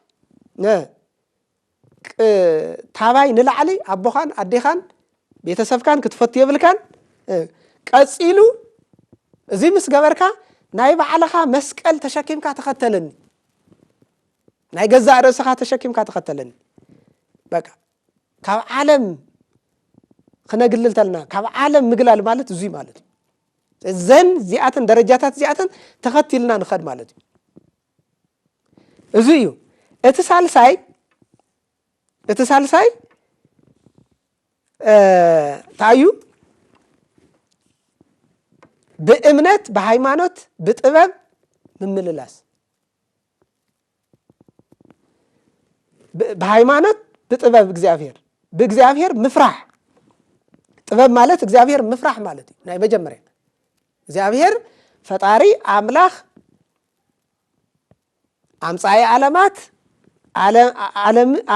ታባይ ንላዕሊ ኣቦኻን ኣዴኻን ቤተሰብካን ክትፈቱ የብልካን ቀፂሉ እዚ ምስ ገበርካ ናይ ባዕልኻ መስቀል ተሸኪምካ ተኸተለኒ ናይ ገዛእ ርእስኻ ተሸኪምካ ተኸተለኒ በቃ ካብ ዓለም ክነግልል ተለና ካብ ዓለም ምግላል ማለት እዙይ ማለት እዩ እዘን እዚኣተን ደረጃታት እዚኣተን ተኸቲልና ንኸድ ማለት እዩ እዚ እዩ እቲ ሳልሳይ እቲ ሳልሳይ እንታይ እዩ ብእምነት ብሃይማኖት ብጥበብ ምምልላስ ብሃይማኖት ብጥበብ እግዚኣብሔር ብእግዚኣብሔር ምፍራሕ ጥበብ ማለት እግዚኣብሔር ምፍራሕ ማለት እዩ ናይ መጀመርያ እግዚኣብሔር ፈጣሪ ኣምላኽ ኣምፃኢ ዓለማት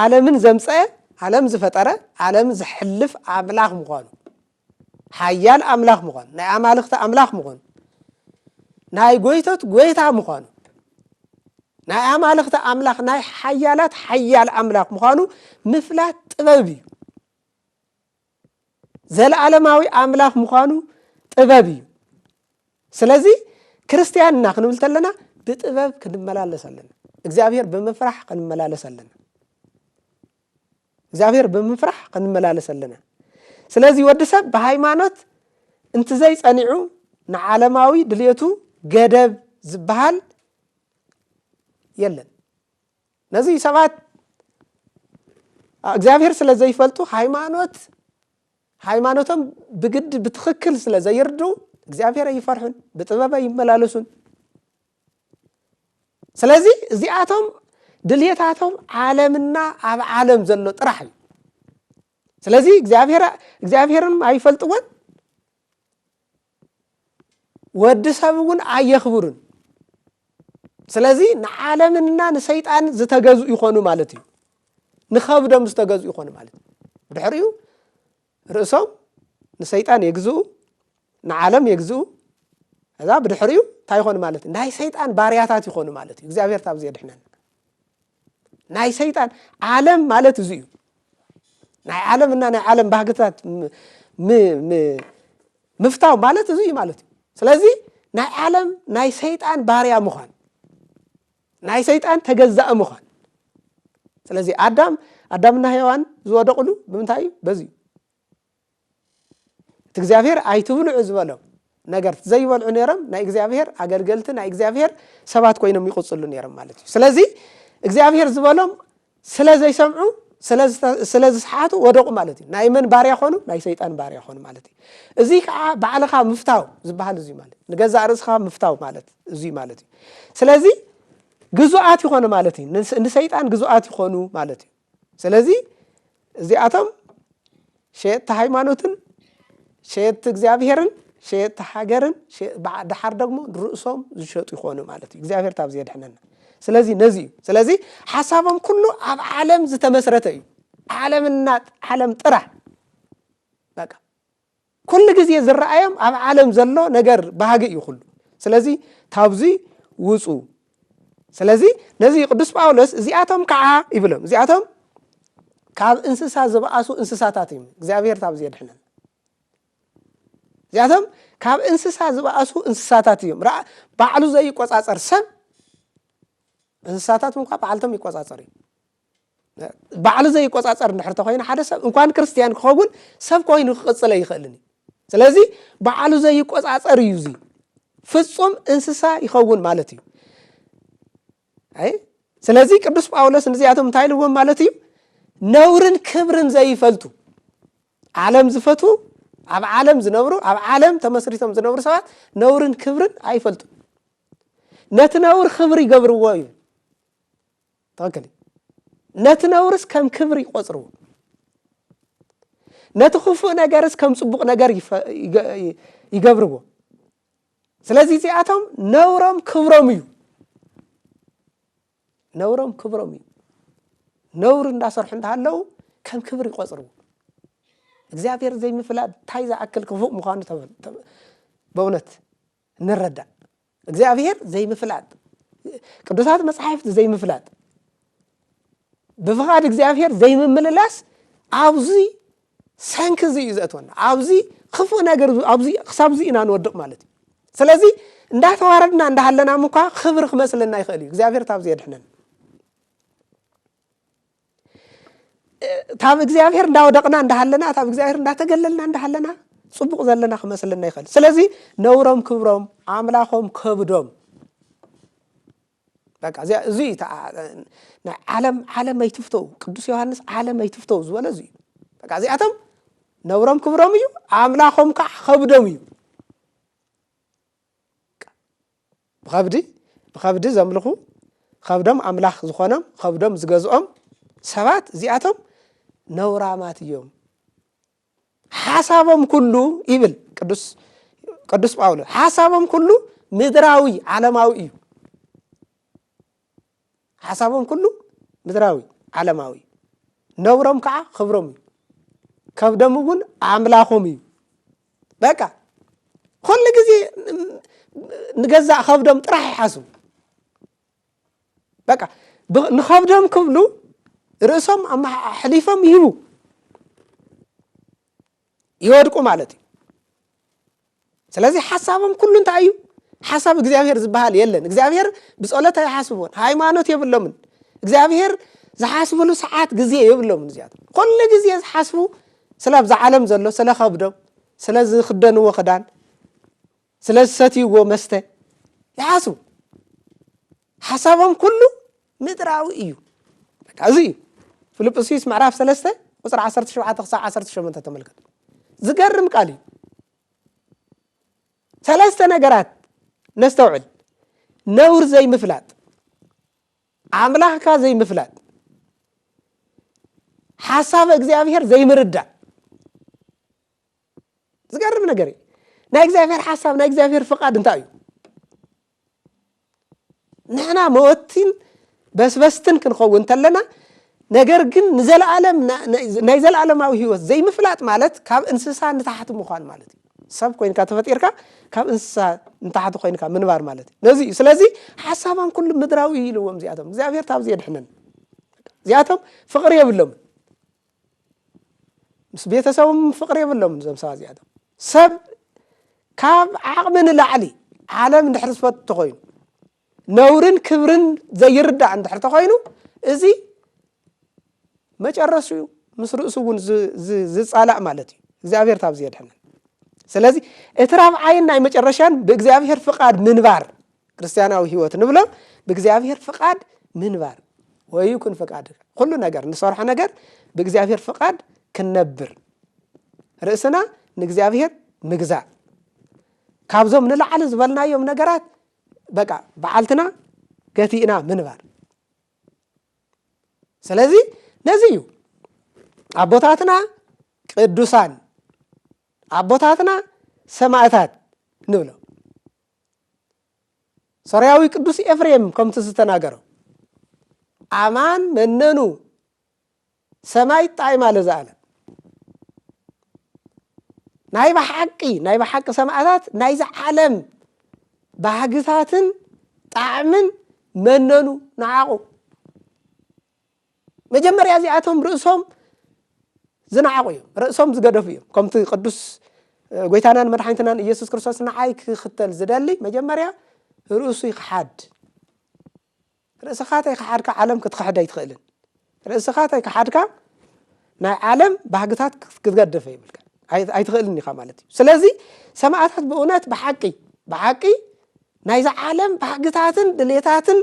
ዓለምን ዘምፀአ ዓለም ዝፈጠረ ዓለም ዝሕልፍ ኣምላኽ ምዃኑ ሓያል ኣምላኽ ምዃኑ፣ ናይ ኣማልኽቲ ኣምላኽ ምዃኑ፣ ናይ ጐይቶት ጐይታ ምዃኑ፣ ናይ ኣማልኽቲ ኣምላኽ ናይ ሓያላት ሓያል ኣምላኽ ምዃኑ ምፍላት ጥበብ እዩ። ዘለዓለማዊ ኣምላኽ ምዃኑ ጥበብ እዩ። ስለዚ ክርስትያን እና ክንብል ተለና ብጥበብ ክንመላለስ ኣለና። እግዚኣብሔር ብምፍራሕ ክንመላለስ ኣለና። እግዚኣብሔር ብምፍራሕ ክንመላለስ ኣለና ስለዚ ወዲ ሰብ ብሃይማኖት እንትዘይ ጸኒዑ ንዓለማዊ ድልየቱ ገደብ ዝበሃል የለን ነዚ ሰባት እግዚኣብሔር ስለ ዘይፈልጡ ሃይማኖት ሃይማኖቶም ብግዲ ብትኽክል ስለ ዘይርድኡ እግዚኣብሔር ኣይፈርሑን ብጥበብ ኣይመላለሱን ስለዚ እዚኣቶም ድልየታቶም ዓለምና ኣብ ዓለም ዘሎ ጥራሕ እዩ ስለዚ እግዚኣብሔርን ኣይፈልጥዎን ወዲ ሰብ እውን ኣየኽብሩን ስለዚ ንዓለምና ንሰይጣን ዝተገዝኡ ይኾኑ ማለት እዩ ንኸብዶም ዝተገዝኡ ይኾኑ ማለት እዩ ድሕሪኡ ርእሶም ንሰይጣን የግዝኡ ንዓለም የግዝኡ እዛ ብድሕሪኡ እንታይ ይኾኑ ማለት እዩ ናይ ሰይጣን ባርያታት ይኾኑ ማለት እዩ እግዚኣብሔር ታብዚ የድሕነና ናይ ሰይጣን ዓለም ማለት እዚ እዩ ናይ ዓለም እና ናይ ዓለም ባህግታት ምፍታው ማለት እዚ እዩ ማለት እዩ ስለዚ ናይ ዓለም ናይ ሰይጣን ባርያ ምዃን ናይ ሰይጣን ተገዛእ ምዃን ስለዚ ኣዳም ኣዳምና ሔዋን ዝወደቕሉ ብምንታይ እዩ በዚ እዩ እቲ እግዚኣብሔር ኣይትብልዑ ዝበሎም ነገር ዘይበልዑ ነይሮም ናይ እግዚኣብሔር ኣገልገልቲ ናይ እግዚኣብሔር ሰባት ኮይኖም ይቕፅሉ ነይሮም ማለት እዩ ስለዚ እግዚኣብሔር ዝበሎም ስለ ዘይሰምዑ ስለ ዝሰሓቱ ወደቑ ማለት እዩ ናይ መን ባርያ ኾኑ ናይ ሰይጣን ባርያ ኾኑ ማለት እዩ እዙይ ከዓ ባዕልኻ ምፍታው ዝበሃል እዙይ ማለት ንገዛእ ርእስኻ ምፍታው ማለት እዙይ ማለት እዩ ስለዚ ግዙኣት ይኾኑ ማለት እዩ ንሰይጣን ግዙኣት ይኾኑ ማለት እዩ ስለዚ እዚኣቶም ሸየጥቲ ሃይማኖትን ሸየጥቲ እግዚኣብሔርን ሸየጥቲ ሃገርን ድሓር ደግሞ ንርእሶም ዝሸጡ ይኾኑ ማለት እዩ እግዚኣብሔር ታብዚ የድሕነና ስለዚ ነዚ እዩ ስለዚ ሓሳቦም ኩሉ ኣብ ዓለም ዝተመስረተ እዩ ዓለምና ዓለም ጥራሕ በቃ ኩሉ ግዜ ዝረኣዮም ኣብ ዓለም ዘሎ ነገር ባህጊ እዩ ኩሉ ስለዚ ታብዚ ውፁ ስለዚ ነዚ ቅዱስ ጳውሎስ እዚኣቶም ከዓ ይብሎም እዚኣቶም ካብ እንስሳ ዝበኣሱ እንስሳታት እዮም እግዚኣብሔር ታብ ዘድሕነን እዚኣቶም ካብ እንስሳ ዝበኣሱ እንስሳታት እዮም ራ ባዕሉ ዘይቆፃፀር ሰብ እንስሳታት እንኳ ባዕልቶም ይቆፃፀር እዩ ባዕሉ ዘይቆጻጸር እንድሕር ተኮይኑ ሓደ ሰብ እንኳን ክርስትያን ክኸውን ሰብ ኮይኑ ክቅጽለ ይኽእልን እዩ ስለዚ ባዕሉ ዘይቆጻጸር እዩ እዚ ፍጹም እንስሳ ይኸውን ማለት እዩ ኣይ ስለዚ ቅዱስ ጳውሎስ ንዚኣቶም እንታይ ኢልዎም ማለት እዩ ነውርን ክብርን ዘይፈልጡ ዓለም ዝፈትዉ ኣብ ዓለም ዝነብሩ ኣብ ዓለም ተመስሪቶም ዝነብሩ ሰባት ነውርን ክብርን ኣይፈልጡ ነቲ ነውር ክብሪ ይገብርዎ እዩ ትኽክል እዩ። ነቲ ነውርስ ከም ክብሪ ይቆጽርዎ ነቲ ክፉእ ነገርስ ከም ጽቡቕ ነገር ይገብርዎ ስለዚ እዚኣቶም ነውሮም ክብሮም እዩ ነውሮም ክብሮም እዩ ነውሪ እንዳሰርሑ እንዳሃለው ከም ክብሪ ይቆጽርዎ እግዚኣብሔር ዘይምፍላጥ እንታይ ዝኣክል ክፉእ ምዃኑ በእውነት ንረዳእ እግዚኣብሔር ዘይምፍላጥ ቅዱሳት መጻሕፍት ዘይምፍላጥ ብፍቓድ እግዚኣብሔር ዘይምምልላስ ኣብዚ ሰንኪ እዚ እዩ ዘእትወና ኣብዚ ክፉእ ነገር ኣብዚ ክሳብ እዚ ኢና ንወድቕ ማለት እዩ ስለዚ እንዳተዋረድና እንዳሃለና ምኳ ክብሪ ክመስለና ይኽእል እዩ እግዚኣብሔር ታብዚ የድሕነን ታብ እግዚኣብሔር እንዳወደቕና እንዳሃለና ታብ እግዚኣብሔር እንዳተገለልና እንዳሃለና ፅቡቕ ዘለና ክመስልና ይኽእል ስለዚ ነውሮም ክብሮም ኣምላኾም ከብዶም በቃ እዚያ እዚ እዩ ናይ ዓለም ዓለም ኣይትፍተው ቅዱስ ዮሃንስ ዓለም ኣይትፍተው ዝበለ እዚ እዩ በቃ እዚኣቶም ነውሮም ክብሮም እዩ ኣምላኾም ከዓ ከብዶም እዩ ብኸብዲ ብኸብዲ ዘምልኹ ኸብዶም ኣምላኽ ዝኾኖም ኸብዶም ዝገዝኦም ሰባት እዚኣቶም ነውራማት እዮም ሓሳቦም ኩሉ ይብል ቅዱስ ቅዱስ ጳውሎስ ሓሳቦም ኩሉ ምድራዊ ዓለማዊ እዩ ሓሳቦም ኩሉ ምድራዊ ዓለማዊ እዩ ነብሮም ከዓ ክብሮም እዩ ከብዶም እውን ኣምላኾም እዩ በቃ ኩሉ ግዜ ንገዛእ ከብዶም ጥራሕ ይሓስቡ በቃ ንከብዶም ክብሉ ርእሶም ኣሕሊፎም ይህቡ ይወድቁ ማለት እዩ ስለዚ ሓሳቦም ኩሉ እንታይ እዩ ሓሳብ እግዚኣብሔር ዝበሃል የለን እግዚኣብሔር ብፀሎት ኣይሓስቦን ሃይማኖት የብሎምን እግዚኣብሔር ዝሓስብሉ ሰዓት ግዜ የብሎምን እዚኣቶም ኩሉ ግዜ ዝሓስቡ ስለ ኣብዛ ዓለም ዘሎ ስለ ከብዶም ስለ ዝክደንዎ ክዳን ስለ ዝሰትይዎ መስተ ይሓስቡ። ሓሳቦም ኩሉ ምድራዊ እዩ። በቃ እዚ እዩ ፊልጵስዩስ ምዕራፍ ሰለስተ ቁፅሪ ዓሰርተ ሸውዓተ ክሳብ ዓሰርተ ሸሞንተ ተመልከቱ። ዝገርም ቃል እዩ። ሰለስተ ነገራት ነስተውዕል። ነውር ዘይምፍላጥ፣ ኣምላኽካ ዘይምፍላጥ፣ ሓሳብ እግዚኣብሔር ዘይምርዳእ። ዝገርም ነገር እዩ ናይ እግዚኣብሔር ሓሳብ ናይ እግዚኣብሔር ፍቃድ እንታይ እዩ ንሕና መወቲን በስበስትን ክንኸውን እንተለና ነገር ግን ንዘለዓለም ናይ ዘለዓለማዊ ህይወት ዘይምፍላጥ ማለት ካብ እንስሳ ንታሕቲ ምዃን ማለት እዩ ሰብ ኮይንካ ተፈጢርካ ካብ እንስሳ ንታሕቲ ኮይንካ ምንባር ማለት እዩ ነዚ እዩ ስለዚ ሓሳባም ኩሉ ምድራዊ ኢልዎም እዚኣቶም እግዚኣብሔር ካብዚ የድሕነን እዚኣቶም ፍቅሪ የብሎምን ምስ ቤተሰቦም ፍቕሪ የብሎምን እዞም ሰባት እዚኣቶም ሰብ ካብ ዓቕሚ ንላዕሊ ዓለም እንድሕር ዝፈት ተኾይኑ ነውርን ክብርን ዘይርዳእ እንድሕር ተኾይኑ እዚ መጨረሱ እዩ ምስ ርእሱ እውን ዝፃላእ ማለት እዩ እግዚኣብሔር ታብዚ የድሐነን ስለዚ እቲ ራብዓይን ናይ መጨረሻን ብእግዚኣብሔር ፍቃድ ምንባር ክርስትያናዊ ህይወት ንብሎ ብእግዚኣብሔር ፍቃድ ምንባር ወይኩን ፍቃድ ኩሉ ነገር ንሰርሖ ነገር ብእግዚኣብሔር ፍቃድ ክንነብር ርእስና ንእግዚኣብሔር ምግዛእ ካብዞም ንላዕሊ ዝበልናዮም ነገራት በቃ በዓልትና ገቲእና ምንባር ስለዚ ነዚ እዩ ኣቦታትና ቅዱሳን ኣቦታትና ሰማእታት ንብሎ ሶርያዊ ቅዱስ ኤፍሬም ከምቲ ዝተናገሮ ኣማን መነኑ ሰማይ ጣይማ ለዝኣለም ናይ ብሓቂ ናይ ብሓቂ ሰማእታት ናይዚ ዓለም ባህግታትን ጣዕምን መነኑ ንዓቑ መጀመርያ እዚኣቶም ርእሶም ዝነዓቑ እዮም፣ ርእሶም ዝገደፉ እዮም። ከምቲ ቅዱስ ጎይታናን መድሓኒትናን ኢየሱስ ክርስቶስ ንዓይ ክኽተል ዝደሊ መጀመርያ ርእሱ ይክሓድ። ርእስኻ ተይክሓድካ ዓለም ክትክሕድ ኣይትኽእልን። ርእስኻ ተይክሓድካ ናይ ዓለም ባህግታት ክትገደፈ ይብልካ ኣይትኽእልን ኢኻ ማለት እዩ ስለዚ ሰማእታት ብእውነት ብሓቂ ብሓቂ ናይዚ ዓለም ባህግታትን ድሌታትን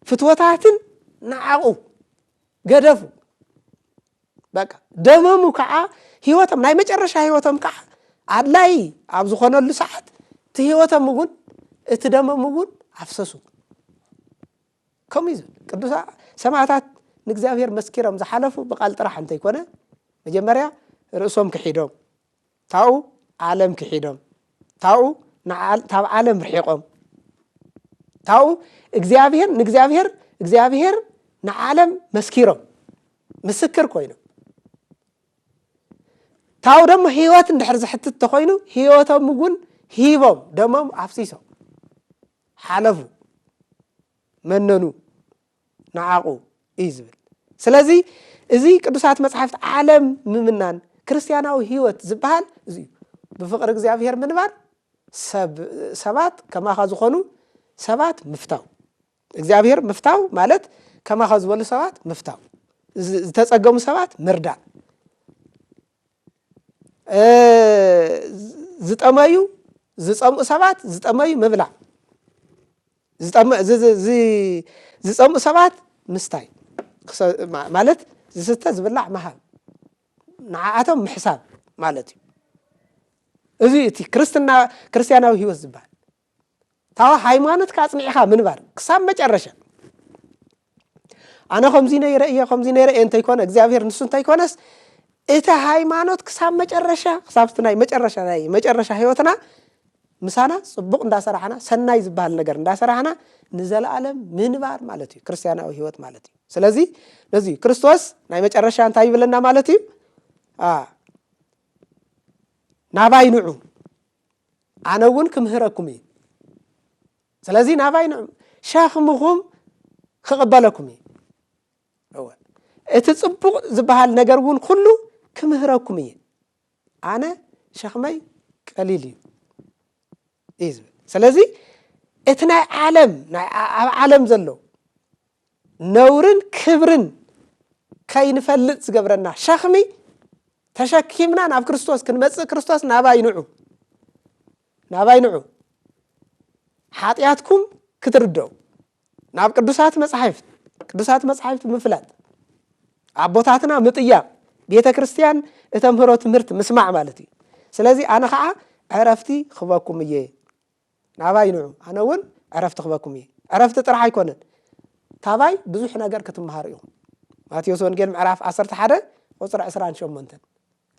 ፍትወታትን ንዓቑ ገደፉ በቃ ደመሙ ከዓ ህይወቶም ናይ መጨረሻ ህይወቶም ከዓ ኣድላይ ኣብ ዝኾነሉ ሰዓት እቲ ህይወቶም እውን እቲ ደመም እውን ኣፍሰሱ ከምኡ እዩ ዝብል ቅዱሳ ሰማዕታት ንእግዚኣብሔር መስኪሮም ዝሓለፉ ብቓል ጥራሕ እንተይኮነ መጀመርያ ርእሶም ክሒዶም ታኡ ዓለም ክሒዶም ታኡ ታብ ዓለም ርሒቆም ታኡ እግዚኣብሔር ንእግዚኣብሔር እግዚኣብሔር ንዓለም መስኪሮም ምስክር ኮይኖም ታኡ ደሞ ህይወት እንድሕር ዝሕትት ተኮይኑ ህይወቶም እውን ሂቦም ደሞም ኣፍሲሶም ሓለፉ መነኑ ንዓቑ እዩ ዝብል ስለዚ እዚ ቅዱሳት መጽሓፍት ዓለም ምምናን ክርስትያናዊ ህይወት ዝበሃል እዚ እዩ ብፍቕሪ እግዚኣብሔር ምንባር ሰባት ከማኻ ዝኾኑ ሰባት ምፍታው እግዚኣብሔር ምፍታው ማለት ከማኻ ዝበሉ ሰባት ምፍታው ዝተጸገሙ ሰባት ምርዳእ ዝጠመዩ ዝፀምኡ ሰባት ዝጠመዩ ምብላዕ ዝፀምኡ ሰባት ምስታይ ማለት ዝስተ ዝብላዕ ምሃብ ንዓኣቶም ምሕሳብ ማለት እዩ እዚ እቲ ክርስትና ክርስትያናዊ ህይወት ዝበሃል ታዋ ሃይማኖትካ ኣጽኒዕኻ ምንባር ክሳብ መጨረሻ ኣነ ከምዚ ነይረ እየ ከምዚ ነይረ እየ እንተይኮነ እግዚኣብሔር ንሱ እንተይኮነስ እቲ ሃይማኖት ክሳብ መጨረሻ ክሳብቲ ናይ መጨረሻ ናይ መጨረሻ ህይወትና ምሳና ፅቡቕ እንዳሰራሕና ሰናይ ዝበሃል ነገር እንዳሰራሕና ንዘለኣለም ምንባር ማለት እዩ ክርስትያናዊ ህይወት ማለት እዩ ስለዚ ነዚ ክርስቶስ ናይ መጨረሻ እንታይ ይብለና ማለት እዩ ናባይ ንዑ ኣነ እውን ክምህረኩም እዩ ስለዚ ናባይ ንዑ ሸኽምኹም ክቕበለኩም እዩ እወ እቲ ፅቡቕ ዝበሃል ነገር እውን ኩሉ ክምህረኩም እየ ኣነ ሸኽመይ ቀሊል እዩ እዩ ዝብል ስለዚ እቲ ናይ ዓለም ኣብ ዓለም ዘሎ ነውርን ክብርን ከይንፈልጥ ዝገብረና ሸኽሚ ተሸኪምና ናብ ክርስቶስ ክንመጽእ ክርስቶስ ናባይ ንዑ ናባይ ንዑ ሓጢኣትኩም ክትርደው ናብ ቅዱሳት መጻሕፍት ቅዱሳት መጻሕፍት ምፍላጥ ኣቦታትና ምጥያቕ ቤተ ክርስቲያን እተምህሮ ትምህርቲ ምስማዕ ማለት እዩ ስለዚ ኣነ ከዓ ዕረፍቲ ክበኩም እየ ናባይ ንዑ ኣነ ውን ዕረፍቲ ክበኩም እየ። ዕረፍቲ ጥራሕ ኣይኮነን ካባይ ብዙሕ ነገር ክትመሃሩ ኢኹም። ማቴዎስ ወንጌል ምዕራፍ ዓሰርተ ሓደ ቁጽሪ ዕስራን ሸሞንተን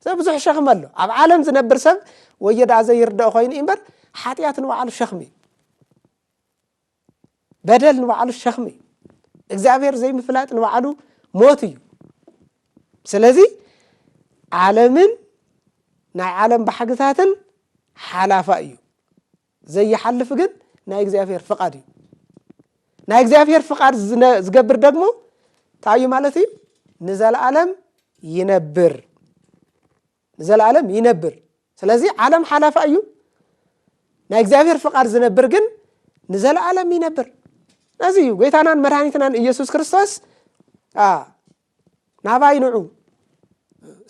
ሰብ ብዙሕ ሸኽሚ ኣሎ። ኣብ ዓለም ዝነብር ሰብ ወዮ ደኣ ዘይርደኦ ኮይኑ እዩ እምበር ሓጢኣት ንባዕሉ ሸኽሚ እዩ። በደል ንባዕሉ ሸኽሚ እዩ እግዚኣብሔር ዘይምፍላጥ ንባዕሉ ሞት እዩ ስለዚ ዓለምን ናይ ዓለም ባሕግታትን ሓላፋ እዩ ዘይሓልፍ ግን ናይ እግዚኣብሔር ፍቓድ እዩ ናይ እግዚኣብሔር ፍቓድ ዝገብር ደግሞ እንታይ እዩ ማለት እዩ ንዘለዓለም ይነብር ንዘለኣለም ይነብር ስለዚ ዓለም ሓላፋ እዩ ናይ እግዚኣብሔር ፍቓድ ዝነብር ግን ንዘለኣለም ይነብር ነዚ እዩ ጐይታናን መድኃኒትናን ኢየሱስ ክርስቶስ ናባይ ንዑ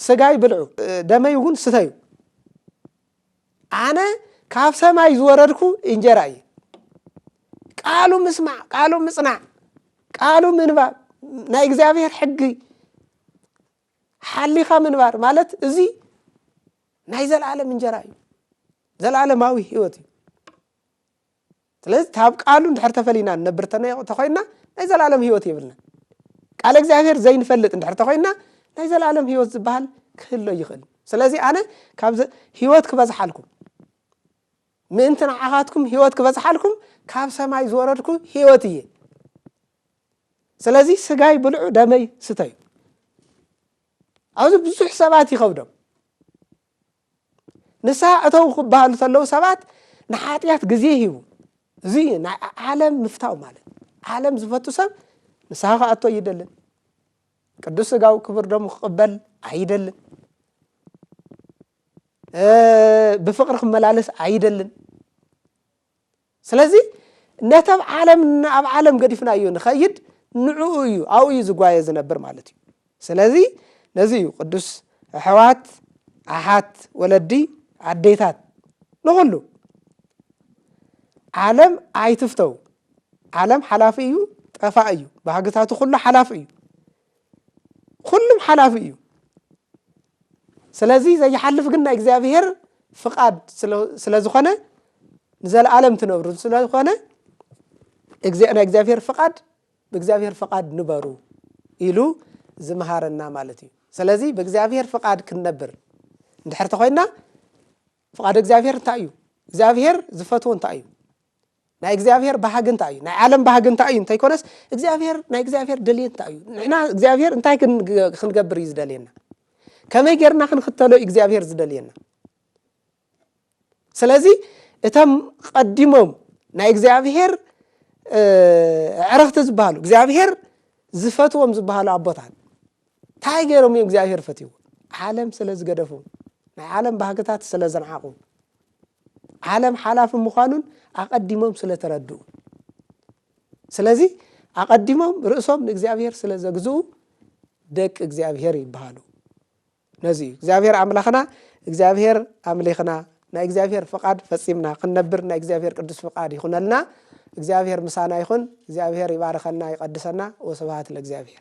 ስጋይ ብልዑ ደመይ እውን ስተዩ ኣነ ካብ ሰማይ ዝወረድኩ እንጀራ እዩ ቃሉ ምስማዕ ቃሉ ምጽናዕ ቃሉ ምንባብ ናይ እግዚኣብሔር ሕጊ ሓሊኻ ምንባር ማለት እዚ ናይ ዘለዓለም እንጀራ እዩ ዘለዓለማዊ ህይወት እዩ ስለዚ ካብ ቃሉ እንድሕር ተፈሊና ንነብር ተኮይንና ናይ ዘለዓለም ህይወት የብልና ቃል እግዚኣብሄር ዘይንፈልጥ እንድሕር ተኮይንና ናይ ዘለዓለም ህይወት ዝበሃል ክህሎ ይኽእል ስለዚ ኣነ ካብ ህይወት ክበዝሓልኩም ምእንቲ ንዓኻትኩም ህይወት ክበዝሓልኩም ካብ ሰማይ ዝወረድኩ ህይወት እየ ስለዚ ስጋይ ብልዑ ደመይ ስተዩ ኣብዚ ብዙሕ ሰባት ይኸብዶም ንስሓ እተው ክበሃሉ ተለዉ ሰባት ንሓጢኣት ግዜ ሂቡ እዚ እዩ ናይ ዓለም ምፍታው ማለት ዓለም ዝፈቱ ሰብ ንስሓ ክኣቶ ኣይደልን ቅዱስ ስጋዊ ክብር ደሙ ክቕበል ኣይደልን ብፍቕሪ ክመላለስ ኣይደልን ስለዚ ነቲ ኣብ ዓለም ኣብ ዓለም ገዲፍናዮ ንኸይድ ንዕኡ እዩ ኣብኡ እዩ ዝጓየ ዝነብር ማለት እዩ ስለዚ ነዚ እዩ ቅዱስ ኣሕዋት ኣሓት ወለዲ ኣዴታት ንኹሉ ዓለም ኣይትፍተው ዓለም ሓላፊ እዩ ጠፋእ እዩ ባህግታቱ ኩሉ ሓላፊ እዩ ኩሉም ሓላፊ እዩ ስለዚ ዘይሓልፍ ግን ናይ እግዚኣብሄር ፍቓድ ስለ ዝኾነ ንዘለኣለም ትነብሩ ስለዝኾነ ናይ እግዚኣብሄር ፍቓድ ብእግዚኣብሄር ፍቓድ ንበሩ ኢሉ ዝምሃረና ማለት እዩ ስለዚ ብእግዚኣብሄር ፍቓድ ክንነብር እንድሕር ተኮይና ፍቓድ እግዚኣብሄር እንታይ እዩ እግዚኣብሄር ዝፈትዎ እንታይ እዩ ናይ እግዚኣብሔር ባህጊ እንታይ እዩ ናይ ዓለም ባህጊ እንታይ እዩ እንተይኮነስ እግዚኣብሔር ናይ እግዚኣብሔር ደልየት እንታይ እዩ ንሕና እግዚኣብሔር እንታይ ክንገብር እዩ ዝደልየና ከመይ ጌርና ክንክተሎ እዩ እግዚኣብሔር ዝደልየና ስለዚ እቶም ቐዲሞም ናይ እግዚኣብሔር ዕረኽቲ ዝበሃሉ እግዚኣብሔር ዝፈትዎም ዝበሃሉ ኣቦታት እንታይ ገይሮም እዮም እግዚኣብሔር ፈትዎ ዓለም ስለ ዝገደፉ ናይ ዓለም ባህግታት ስለ ዘንዓቑ ዓለም ሓላፊ ምዃኑን ኣቐዲሞም ስለ ተረድኡ። ስለዚ ኣቐዲሞም ርእሶም ንእግዚኣብሔር ስለ ዘግዝኡ ደቂ እግዚኣብሔር ይበሃሉ። ነዚ እዩ እግዚኣብሔር ኣምላኽና እግዚኣብሔር ኣምሊኽና ናይ እግዚኣብሔር ፍቓድ ፈጺምና ክንነብር ናይ እግዚኣብሔር ቅዱስ ፍቓድ ይኹነልና። እግዚኣብሔር ምሳና ይኹን። እግዚኣብሔር ይባርኸና ይቐድሰና። ወስብሃት ለእግዚኣብሔር።